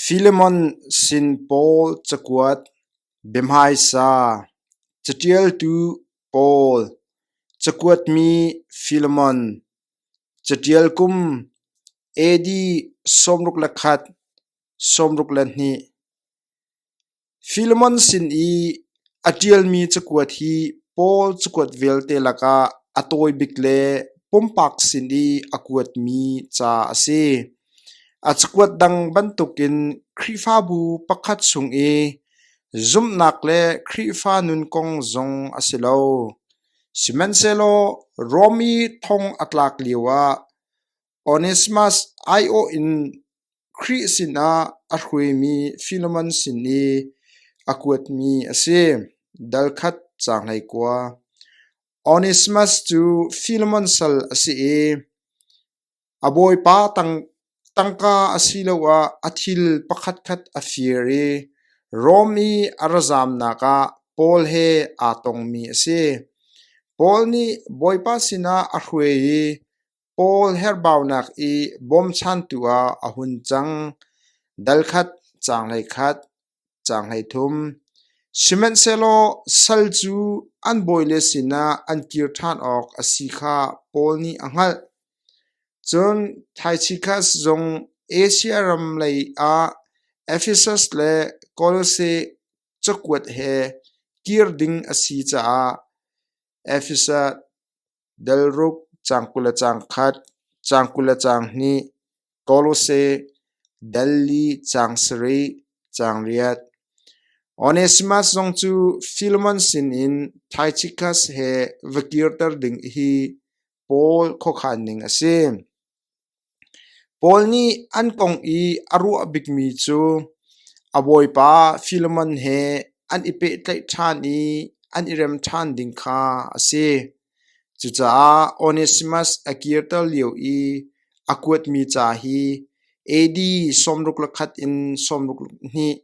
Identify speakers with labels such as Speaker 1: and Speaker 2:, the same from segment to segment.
Speaker 1: Filemon sin pawl cakuat, biahmaisa, caṭialtu pawl, cakuatmi Filemon, caṭial kum, AD sawmruk le khat, sawmruk le hnih. Filemon sin i a ṭialmi cakuat hi Paul cakuat vialte lakah a tawi bik le pumpak sin i a kuatmi ca a si. A cakuat dang bantukin Khrihfabu pakhat chung i zumhnak le Khrihfa nun kong zong a si lo. Sihmanhsehlaw Rom i thong a tlak lioah Onesimas aiawh in Khrih sinah a hruaimi Filemon sin i a kuatmi a si. Dal khat ca hlei kua. Onesimas cu Filemon sal a si i a bawipa tang, tangka asiloah a thil pakhatkhat a fir i Rom i a ra zamnak ah Paul he aa tongmi a si. Paul nih Bawipa sinah a hruai i Paul herhbaunak i bawmchantu ah a hun cang, dal khat, caang hlei khat, caang hlei thum. Sihmanhsehlaw sal cu an bawile sinah an kir ṭhan awk a si kha Paul nih a hngalh. Cun Taichikas zong Asia ram lei ah Efesus le Kolose cakuat he kir ding a si caah Efesus Delruk caang kul le caang khat, caang kul le caang hnih, Kolose, Delli caang sarih, caang riat. Onesimas zong cu Filemon sinin Taichikas he va kirter ding hi Paul khuakhan ning a si. Paul nih an kong i a ruah bikmi cu a bawipa Filemon he an i pehtlaih ṭhan i an i rem ṭhan ding kha a si. Cucaah Onesimas a kirter lio i a kuatmi ca hi AD sawmruk le khat in sawmruk hnih,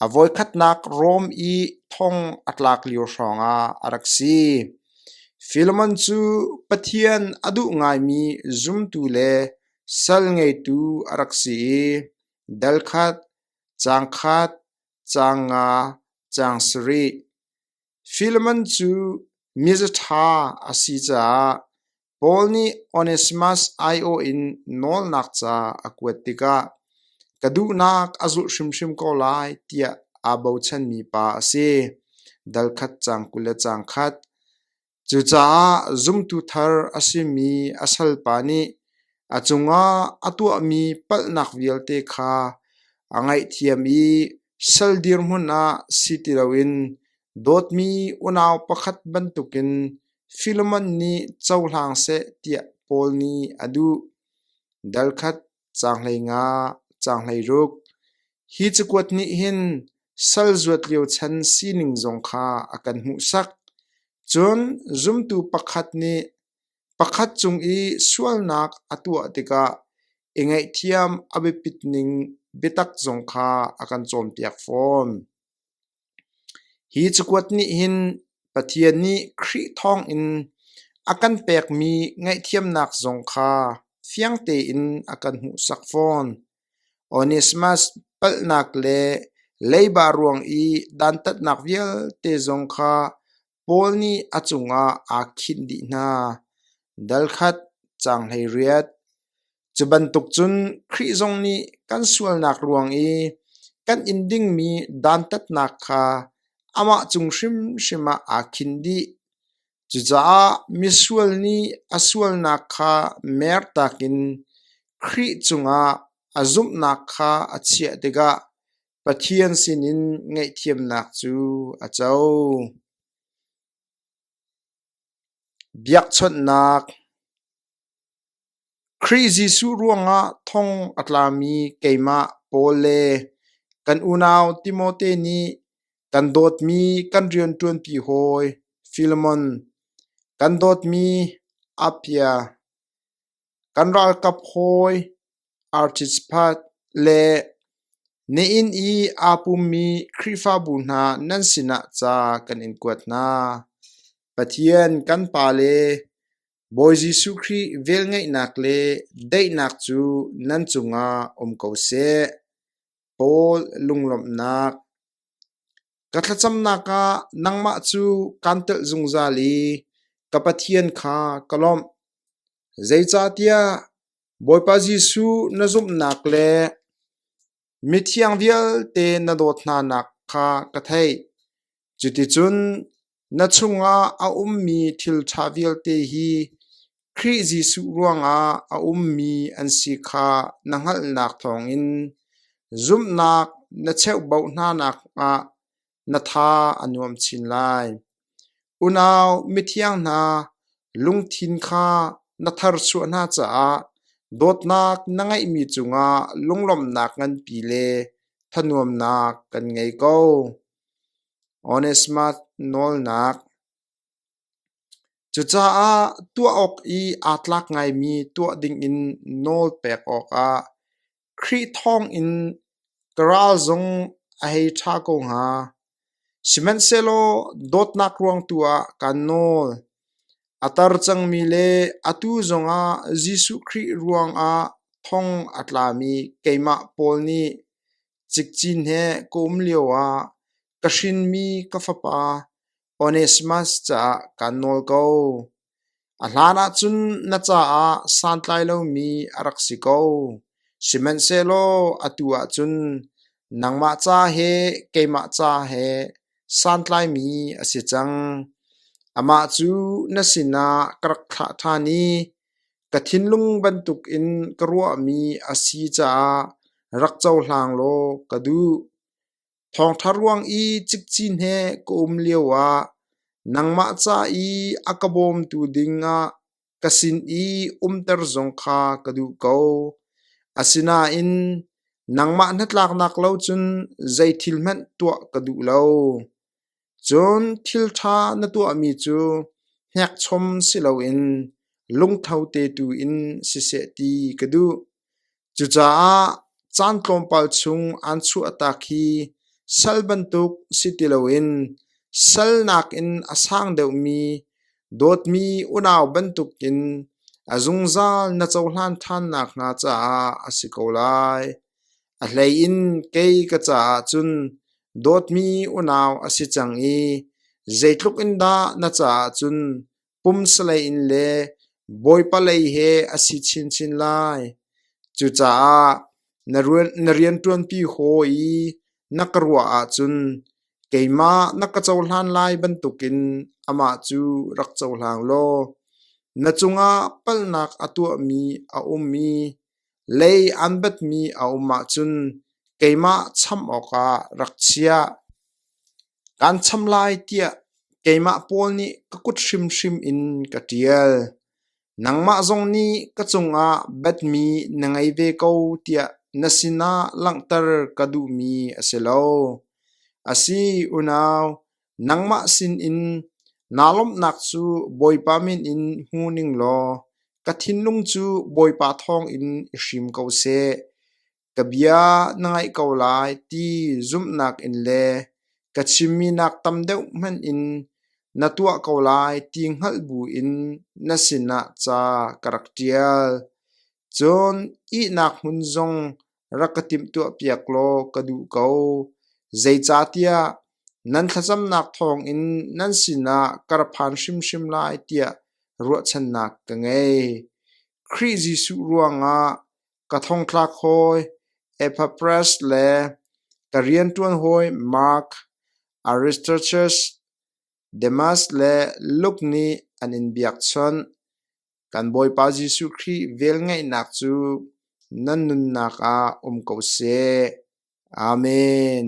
Speaker 1: A voikhatnak Rome i thong a tlak lio hrawngah a rak si. Philemon cu Pathian a duh ngaimi zumtu le sal ngeitu a rak si i dal khat, caang khat, caang nga, caang sarih, Filemon cu mizaṭha a si caah Paul nih Onesimas aiawh in nawlnak ca a kuat tikah ka duhnak a zulh hrimhrim ko lai tiah aa bochanmi pa a si, dal khat cang kul le cang khat. Cucaah zumtu thar a simi a salpa nih A cungah a tuahmi palhnak vialte kha a ngaihthiam i sal dirhmun ah si ti loin dawtmi unau pakhat bantukin Filemon nih cohlang seh tiah Paul nih a duh. Darkhat caang hleinga caang hleiruk Hi cakuat nih hin sal zuat lio chan sining zong kha a kan hmuhsak. Cun zumtu pakhat nih Pakhat cung i sualnak a tuah tikah i ngaihthiam a biapit ning biatak zong kha a kan cawnpiak fawn. Hi cakuat nih hin Pathian nih Khrih thawngin a kan pekmi ngaihthiamnak zong kha fiang tein a kan hmuhsak fawn. Onesimas palhnak le leiba ruang i dantatnak vialte zong kha Paul nih a cungah aa khinh dih hna, dal khat, caang hleiriat. Cu bantuk cun Khrih zong nih kan sualnak ruang i kan in dingmi dantatnak kha amah cung hrimhrim ah aa khinh dih. Cucaah misual nih a sualnak kha mertak in Khrih cungah a zumhnak kha a chiah tikah Pathian sinin ngaihthiamnak cu a co. Biakchawnhnak Khrih Jesuh ruangah thong a tlami keimah Paul le kan unau Timote nih kan dawtmi kan rianṭuanpi hawi Filemon, kan dawtmi Appia, Kan ralkap hawi artist phat le na inn i aa pummi Khrihfabu hna nan sinah ca kan in kuat hna. Pathian kan Pa le Bawi Jesuh Khrih velngeihnak le daihnak cu nan cungah um ko seh. Paul lunglawmhnak Ka thlacamnak ah nangmah cu kaan telh zungzal i ka Pathian kha ka lawmh. Zeicahtiah Bawipa Jesuh na zumhnak le mithiang vialte na dawt hnanak kha ka theih. Cuticun na chungah a ummi thil ṭha vialte hi Khrih Jesuh ruangah a ummi an si kha na hngalhnak thawngin zumhnak na cheuhboh hnanak ah na tha a nuam chin lai. Unau mithiang hna, lungthin kha na tharchuah hna caah dawtnak na ngeihmi cungah lunglawmhnak nganpi le thanuamnak kan ngei ko. Onesmat nawlnak Cucaah tuah awk i aa tlak ngaimi tuah dingin nawl pek awkah Khrih thawngin ka ral zong a hei ṭha ko hnga. Sihmanhsehlaw dawtnak ruang tu ah kaan nawl. A tar cangmi le atu zongah Jesuh Khrih ruangah thong a tlami keimah Paul nih Cikcin he kawm lioah ka hrinmi ka fapa Onesimas caah kaan nawl ko. A hlanah cun na caah santlai lomi a rak si ko. Sihmanhsehlaw atu ah cun nangmah ca he keimah ca he santlaimi a si cang. Amah cu na sinah ka rak thlah ṭhan i Ka thinlung bantuk in ka ruahmi a si caah rak cohlang law ka duh. Thawngṭha ruang i cikcin he ka um lioah nangmah ca i a ka bawmtu dingah ka sin i umter zong kha ka duh ko. Asinain nangmah hnatlaknak lo cun zei thil hmanh tuah ka duh lo. Cun thil ṭha na tuahmi cu hnekchom si loin lungtho te tu in siseh ti ka duh. Cucaah caan tlawmpal chung aan chuahtak hi sal bantuk si ti loin salnak in a sang deuhmi dawtmi unau bantukin a zungzal na cohlan ṭhan nakhnga caah a si ko lai. A hlei in kei ka caah cun dawtmi unau a si cang i zeitluk in dah na caah cun pumsalei in le bawipalei he a si chinchin lai. Cucaah na rianṭuanpi haw i na ka ruah ahcun keimah na ka cohlan lai bantukin amah cu rak cohlang law na cungah palhnak a tuahmi a um i Lei an batmi a um ahcun keimah chamh awkah rak chiah. Kan cham lai tiah keimah pawl nih ka kut hrimhrim in ka ṭial. Nangmah zong nih ka cungah batmi na ngei ve ko tiah na sinah langhter ka duhmi a si lo. A si unau, Nangmah sinin naa lawmhnak cu Bawipa min in hmu ning law ka thinlung cu Bawipa thawngin i hrim ko seh. Ka bia na ngaih ko lai ti zumhnak in le ka chimminak tam deuh hmanh in na tuah ko lai ti hngalh buin na sinah ca ka rak ṭial. Cun ihnak hmun zong rak ka timhtuahpiak law ka duh ko. Zeicahtiah nan thlacamnak thawngin nan sinah ka ra phan hrimhrim lai tiah ruahchannak ka ngei. Khrih Jesuh ruangah ka thongthlak hawi Epaphras le ka rianṭuan hawi Mark, Aristarchus, Demas le Luke nih an in biakchawnh. Kan Bawipa Jesuh Khrih velngeihnak cu nan nunnak ah um ko seh. Amen.